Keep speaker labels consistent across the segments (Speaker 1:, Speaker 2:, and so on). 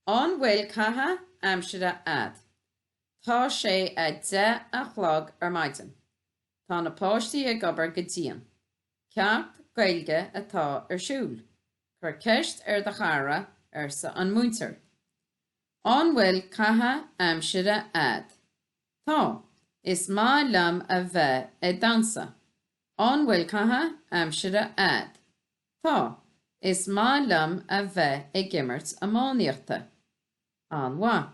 Speaker 1: An bhfuil caitheamh aimsire a'd? Tá sé a deich a chlog ar maidin. Tá na páistí ag obair go dian. Ceacht Gaeilge atá ar siúl. Cuir ceist ar do chara, arsa an múinteoir. An bhfuil caitheamh aimsire a'd? Tá. Is maith liom a bheith ag damhsa. An bhfuil caitheamh aimsire a'd? Tá. Is maith liom a bheith ag imirt iománaíochta. An-mhaith.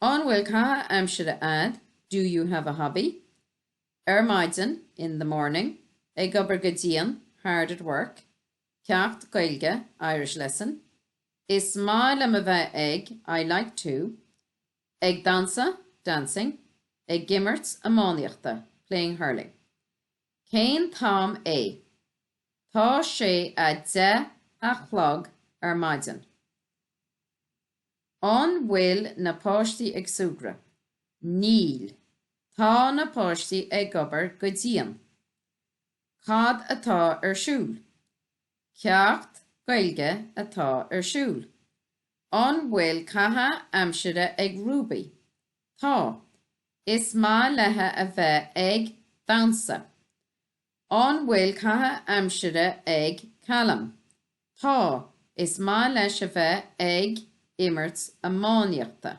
Speaker 1: An bhfuil caitheamh aimsire a'd, do you have a hobby? Ar maidin, in the morning. Ag obair go dian, hard at work. Ceacht Gaeilge, Irish lesson. Is maith liom a bheith ag, I like to. Ag damhsa, dancing. Ag imirt iománaíochta, playing hurling. Cén t-am é? Tá sé a deich a chlog ar maidin. An bhfuil na páistí ag súgradh? Níl. Tá na páistí ag obair go dian. Cad atá ar siúl? Ceacht Gaeilge atá ar siúl. An bhfuil caitheamh aimsire ag Rúbaí? Tá. Is maith léithi a bheith ag damhsa. An bhfuil caitheamh aimsire ag Calum? Tá. Is maith leis a bheith ag imirt iománaíochta.